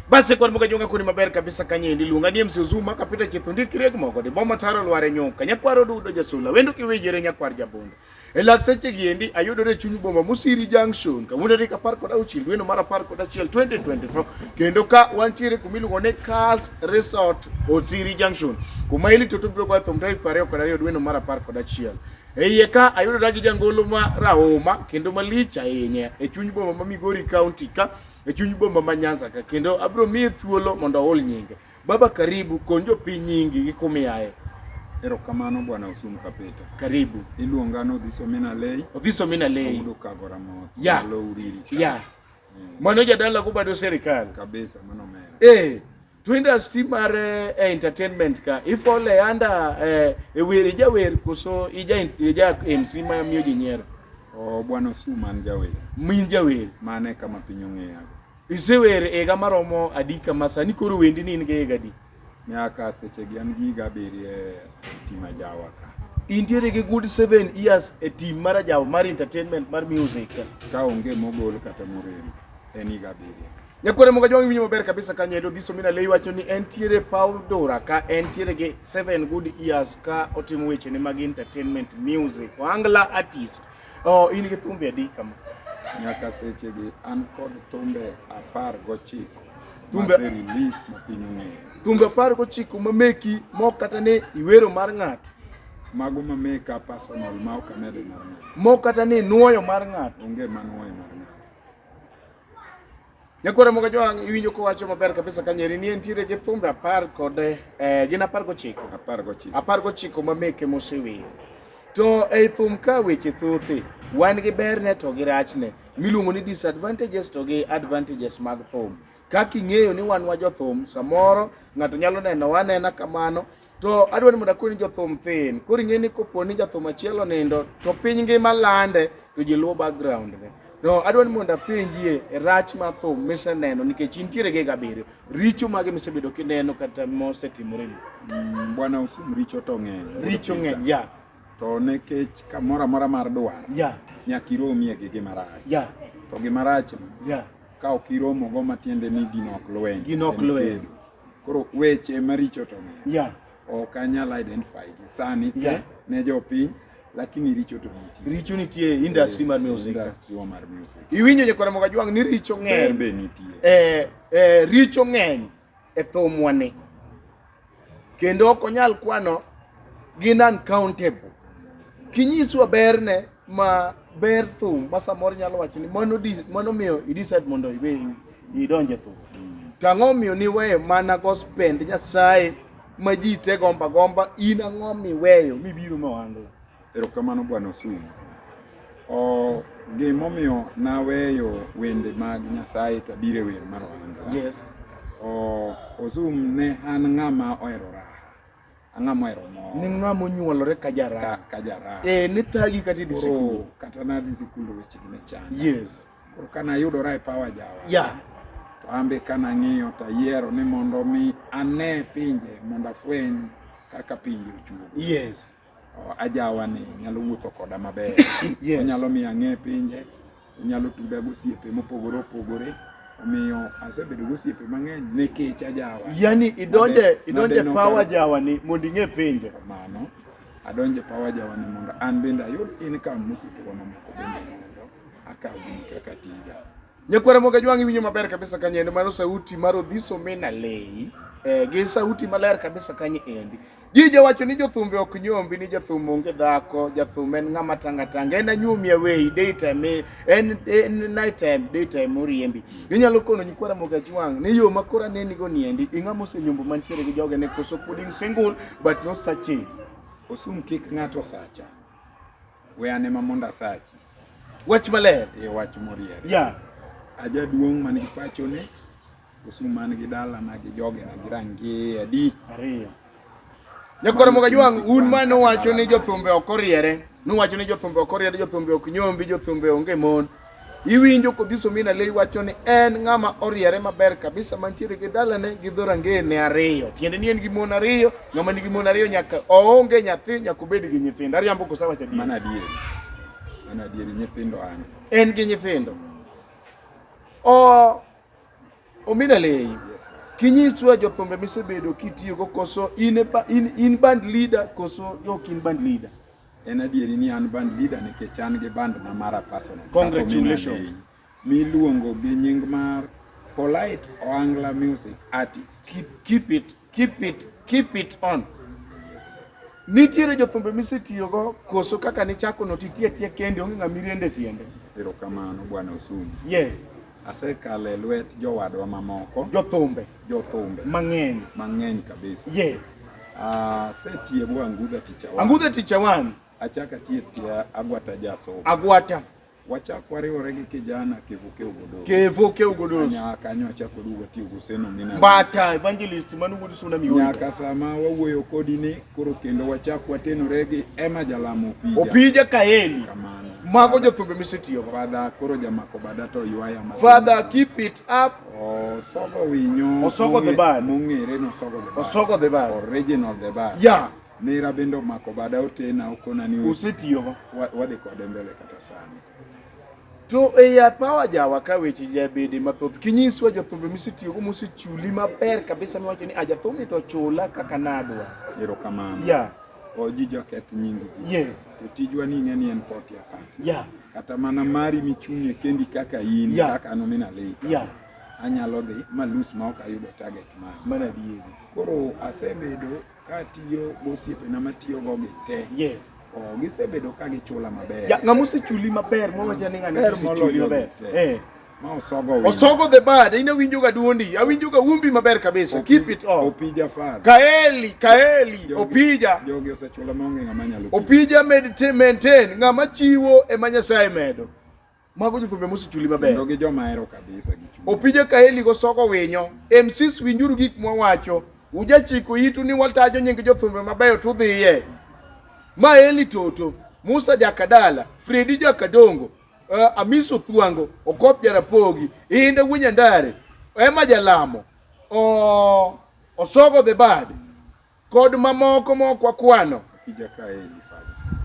Basi kod muka junga kuni maber kabisa kanye indi lunga ni MC Zuma kapita chithundi kire kumoko di boma taro lware nyoka nyakwaro dudo jasula wendo kiwejere nyakwar jabondo e lak seche gi endi ayudore chuny boma Musiri Junction kawuono tarik apar kod auchiel dweno mar apar kod achiel 2024 kendo ka wantiere kuma iluongo ni Carls Resort Osiri Junction kuma ilito to biro goyo thum tarik piero ariyo kod ariyo dweno mar apar kod achiel e iye ka ayudora gi jangolo ma rahuma kendo malich ahinya e chuny boma ma Migori County ka e chuny boma ma Nyanza ka kendo abro miye thuolo mondo ahol nyinge. Baba karibu kony jopiny nyingi gi kumiaye. Erokamano bwana Osum Kapita. Karibu. Iluonga ni Odhiso Mina Lei. Odhiso Mina Lei. Ayudo kagora mot. Ya. Alo uriri. Ya. Eh. Mano jadala kubado serikali. Kabisa mano mera. Eh. to industry mar eh, eh, entertainment ka ifole anda eh, e wer ijawer koso ija ija MC ma miyo ji nyiero oh bwana su man jawer min jawer mane kama piny ong'eya isewer ega maromo adi kama sani koro wendi ni in ga ega adi miaka sechegi an gi higa abiriyo e tim ajawa ka intiere gi good seven years e tim mar ajawa mar entertainment mar music ka onge mogol kata morem en higa abiriyo Nyakware moga jwang' winyo maber kabisa ka nyedo dhiso mina lei wacho ni en tiere Paul Dora ka en tiere gi seven good years ka otimo weche ne mag entertainment music Angla artist. Oh, in gi thumbe adi kama? Nyaka seche gi an kod thumbe apar gochiko. Thumbe release ma piny ong'eyo. Thumbe apar gochiko ma meki mok kata ni iwero mar ng'ato. Mago ma meka personal ma ok amedo mar ng'ato. Mok kata ni nuoyo mar ng'ato. Onge ma nuoyo mar ng'ato. Nyakore moga jwang' iwinjo kowacho maber kabisa ka nyeri ni entiere gi thumbe apar kod eh, gin apar gochiko apar gochiko apar gochiko ma meke moseweyo to ei thum ka weche thothi wan gi berne to gi rachne miluongo ni disadvantages to gi advantages mag thum kaka ing'eyo ni wan wa jothum samoro ng'ato nyalo neno wanena kamano To adwa ni mondo akoni jothum thin. Koro ing'e ni kopo ni jathum achiel onindo to piny ngima lande to ji luwo background ne. No, adwa ni mondo apenjie rach ma thum miseneno nikech intiere gi gabiriyo. Richo mage misebedo kineno kata mosetimore ni? Mm, Bwana usum richo to ng'eny. Richo ng'eny, ya. To nekech kamoro amora mar dwar. Ya. Nyaka iromie gi gima rach. Ya. To gima rach no. Ya. Ka ok iromogo matiende ni gino ok lweny. Gino ok lweny. Koro weche maricho to ng'eny. Yeah. Ok anyal identify gi sani te yeah. ne jopiny lakini richo to nitie. Richo nitie industry mar music. Industry wa mar music. Iwinjo je kora moga jwang ni richo ng'eny. Be nitie. Eh eh richo ng'eny e thomwa ni. Kendo ok onyal kwano gin uncountable. Kinyiswa berne ma ber thum ma samoro nyalo wacho ni mano dis- mano miyo i decide mondo iwe idonje thum to ang'o miyo niweyo mana gospend nyasaye ma ji te gomba gomba in ang'o miweyo mibiro mawando erokamano bwana osumu O, gimomiyo naweyo wende mag nyasaye to abiro e wer mar ohanda yes o, osum ne an ng'ama ohero raha ang'a mohero mor ni ng'a monyuolore ka jaraha ka jaraha eh ne thagi kata idhi sikul kata na dhi sikul weche gi ne chan yes koro kana yudora e power jawa yeah to ambe kana ng'iyo to ayiero ni mondo mi ane pinje mondo afweny kaka pinje ochuo yes ajawa ni nyalo wuotho koda maber yes. onyalo miyo ang'e pinje Onyalo tuda gi osiepe mopogore opogore omiyo asebedo gi osiepe mang'eny nikech ajawa. Yani idonje idonje power jawa ni mondo ing'e penjo. Kamano adonje power jawa ni mondo an bende ayud income mosiepewa mamoko bende yudo akaw gini kaka tija. Nyakwara moga jwangi winyo maber kabisa kanyendo mano sauti mar Odhiso Mena Leyi eh, gi sauti maler kabisa kanyo endi Ji jowacho ni jothumbe ok nyombi ni jathum onge dhako, jathum en ng'ama tanga tanga, en anyumi away daytime, en en night time daytime oriembi. Inyalo kono nyikwara moga jwang' ni yo makora neni go niendi, ing'ama osenyombo mantiere gi joge ne koso pod in single but no such thing. Osum kik ng'ato sacha. We ane ma mondo asachi. Wach maler. E wach moriere. Yeah. Ajaduong' man gi pachone Kisumu man gi dalana gi jogena gi rangie adi? Ariyo. Jakoromoga jwang' un ma nuwacho ni jothumbe ok oriere, nuwacho ni jothumbe ok oriere, jothumbe ok nyombi, jothumbe onge mon. Iwinjo kodhiso mina lei wacho ni en ng'ama oriere maber kabisa mantiere gi dalane gi dhorangeye ne ariyo. Tiende ni en gi mon ariyo, ng'ama nigi mon ariyo nyaka oonge nyathi nyaka obed gi nyithindo. Ariambo kosa wacho adier. Mana adier. Mana adier nyithindo an. En gi nyithindo. O Omina lei. Kinyiswa jothumbe misebedo kitiyogo koso in, in, in band leader koso ok in band leader? En adieri ni an band leader nikech an gi band na mara personal. Congratulations. Miluongo gi nying mar Polite Oangla Music Artist. Keep, keep it. Keep it, keep it on. Nitiere jothumbe misetiyogo koso kaka nichako no titie tie kende onge ng'ama iriende tiende. Erokamano bwana Osum. Yes. Asekalo e lwet jowadwa mamoko. Jothumbe. Jothumbe. Mang'eny. Mang'eny kabisa. Yes. Asetiye bwa Angudha Ticha One. Angudha Ticha One. Achaka tiye tiya Agwata Jasomo. Agwata. Wachak wariwore gi kijana Kevuke Ogodoro. Kevuke Ogodoro. Nyaka kanyo achak waduogo watiyo gi Useno Mina. Bata evangelist manu wuod Suna Mioni. Nyaka sama wawuoyo kodi ni koro kendo wachak watenore gi Emma Jalamo Opija. Opija Kaeli. Kamano. Mago jothumbe misetiyo. Father koro jamako bada to ywaya ma. Father keep it up. Osogo winyo. Osogo the bad. Mong'ere no osogo the bad. Osogo the bad. Original the bad. Yeah. Nera bende omako bada otena okona ni usetiyogo wadhi kode mbele kata sani. To e ya pawa jawa ka weche jabede mathoth kinyiswa jothumbe misetiyogo mosechuli maber kabisa miwacho ni ajathumni to chula kaka nadwa. Erokamano. Yeah. Oji joketh nying ji. Yes. To tijwa ni ing'e ni en poti akata. Yeah. Kata mana mari michung'e kendi kaka in yeah. kaka an omina lei. Yeah. Anyalo dhi malus ma ok ayudo target mari. Mana adieri. Koro asebedo Katiyo gosiepena matiyogo gi te. Yes. Oh, gisebedo ka gichula maber. Ya, ng'ama osechuli maber mwawacha ni ng'ani osechuli maber. Eh. Ma osogo wendo. Osogo the bad. Ina winjo ga duondi. Awinjo ga wumbi maber kabisa. Opi, Keep it up. Opija father. Kaeli, kaeli, jogi, opija. Jogi osechula maonge ng'ama nyalo. Opija maintain ng'ama chiwo e ma Nyasaye medo. Mago jothumbe mosechuli maber. Kendo gi joma hero kabisa gi chuny. Opije kaeli go soko winyo. MCs winjuru gik mwawacho. Ujachiko itu ni watajo nying jothumbe mabeyo tudhiye. Ma Eli Toto, Musa Jakadala, Fredi Jakadongo, uh, eh, Amiso Thwango, Okop Jarapogi, Inde Wunyandare, Emma Jalamo, oh, Osogo the Bad, kod mamoko mok wakwano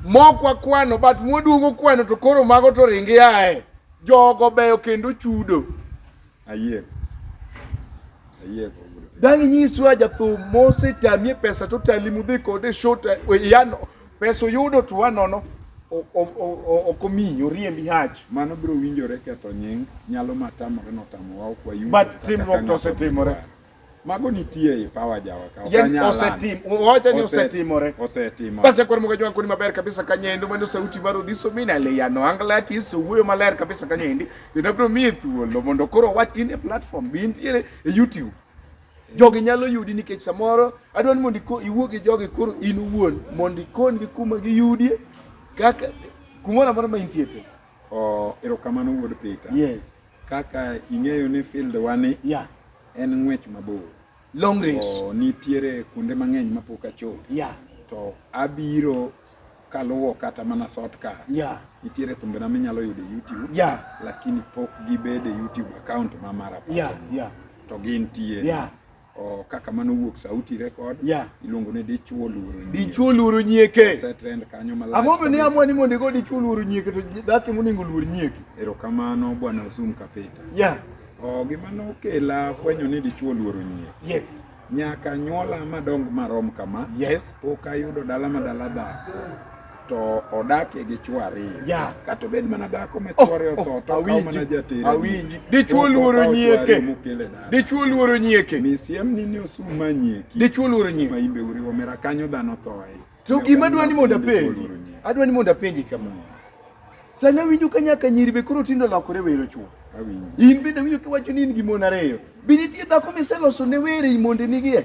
mok wakwano but mwaduogo kwano to koro mago to ringi ae jogo beyo kendo chudo ayiego ayiego dang' nyiswa jathum mosetamie pesa to tali mudhi kode shot eh, yano pesa oyudo to wanono ok omiyi oriembi hach mano biro winjore ketho nying nyalo matamore notamowa ok wayudo but timruok to osetimore mago nitie e power jawa ka yani osetim wacha ni osetimore osetimo basi kwa mwaga jwangu ni maber kabisa kanyendo mano sauti baro dhiso mina le ya no angla ati so wuyo maler kabisa kanyendi inabro mi thuolo mondo koro wach in a platform bi intiere e youtube jogi nyalo yudi nikech samoro adwani mondo iwuo gi jogi koro in uwuon mondo ikon gi kuma giyudie kaka kumoro amora ma intie te Oh, erokamano wuod Peter. Yes. Kaka ing'eyo ni field wani yeah. en ng'wech mabor. Long race. Oh, nitiere kuonde mang'eny mapok achopo. Yeah. To abiro kaluwo kata mana sort ka. Yeah. Nitiere thumbe na minyalo yudo e YouTube. Yeah. Lakini pok gibede YouTube account ma mara. Yeah, yeah. To gin tie. Yeah. Oh, kaka mano wuok sauti record yeah. iluongo ni dichuo luoro nyieke dichuo luoro nyieke se trend kanyo malach ang'o mane amwa ni mondo igo dichuo luoro nyieke to dhako monego luor nyieke erokamano bwana osum kapita yeah. oh, gima nokela fwenyo ni dichuo luoro nyieke yes nyaka nyuola madong marom kama yes pok ayudo dala madala dhako to odakie gi chwo ariyo yeah. kata obed mana dhako ma oh, chwore otho oh, to okawo mana jatere awinji dichwo luoro nyieke dichwo luoro nyieke misiem ni ni osum ma nyieki dichwo luoro nyieke ma imbe uriwo mera kanyo dhano thoe to gima adwa ni mondo apenji adwa ni mondo apenji kama sama winjo ka nyaka nyiri be koro tindo lokore wero chwo in bende winjo kiwacho ni in gi mon ariyo be nitie dhako miseloso ne were i mondenigie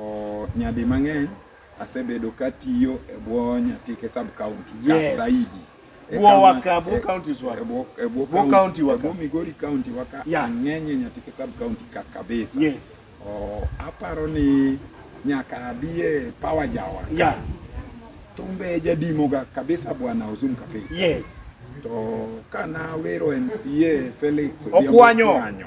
Oh, nyadi mang'eny asebedo katiyo e bwo Nyatike sub county yes. zaidi e bwo waka bwo e, counties waka e bwo e bwo county waka bwo Migori county waka yeah. ng'enye Nyatike sub county ka kabisa yes oh, aparo ni nyaka abie power jawa yeah. tumbe jadimoga kabisa bwana Ozum Kapei yes to kana wero MCA Felix Okwanyo, Okwanyo.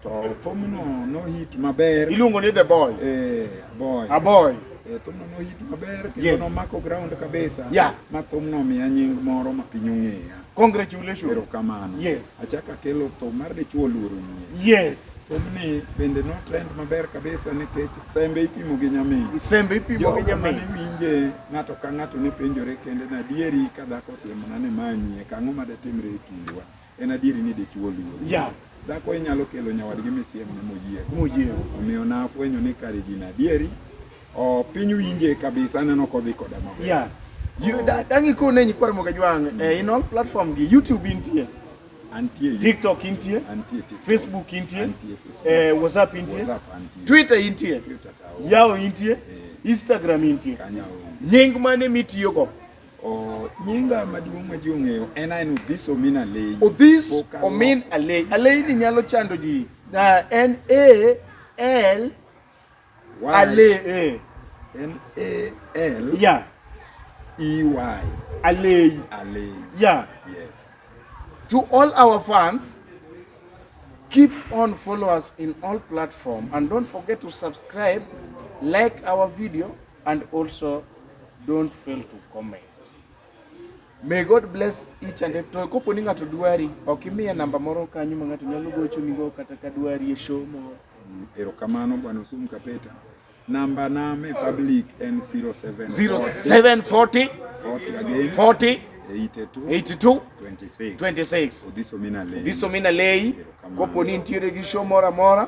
To thumno nohit maber. Iluongo ni The Boy. Eh, boy. A boy. Eh, thumno nohit maber kendo yes. nomako ground kabisa. Yeah. Ma thumno omiya nying moro ma piny ong'eya. Congratulations. Erokamano. Yes. Achaka kelo thum mar dichuo luoro nyie. Yes. Thumni bende no trend maber kabisa nikech sembe ipimo gi nyamin. Sembe ipimo gi nyamin. Jogo winje ng'ato ka ng'ato ne penjore kende na dieri ka dhako osiemona ni manyie kang'o ma datimre e kindwa. En adieri ni dichwo luor. Yeah. Dhako inyalo kelo nyawadgi misiemne moyie. Moyie. Omiyo nafwenyo ni kare gin adieri. O piny winje kabisa aneno kodhi koda maber. Yeah. You, da, dangi ko ne nyikwar moga jwang mm. eh, in all platform gi YouTube intie antie TikTok intie antie TikTok Facebook intie antie Facebook. Eh, WhatsApp intie WhatsApp antie Twitter intie Twitter yao intie eh. Instagram intie nying mane mitiyo go nyinga maduong' ma ji ong'eyo en aen Odhis Omin Alei. Odhis Omin Alei. Alei ni nyalo chando ji. En A L Alei. En A L yeah. E Y. Alei. Alei. Yeah. Yes. To all our fans keep on follow us in all platform and don't forget to subscribe like our video and also don't fail to comment. May God bless each and every to kopo ni ng'ato dwari ok imiye namba moro kanyo ma ng'ato nyalo gocho nigo kata ka dwari e show moro. Mm, erokamano bwana Osum Kapeta. Namba na me public en 07 0740 40 again 40 82 82 26 26 Odhiso Mina Lei. Odhiso Mina Lei. Kopo ni nitiere gi show moro amora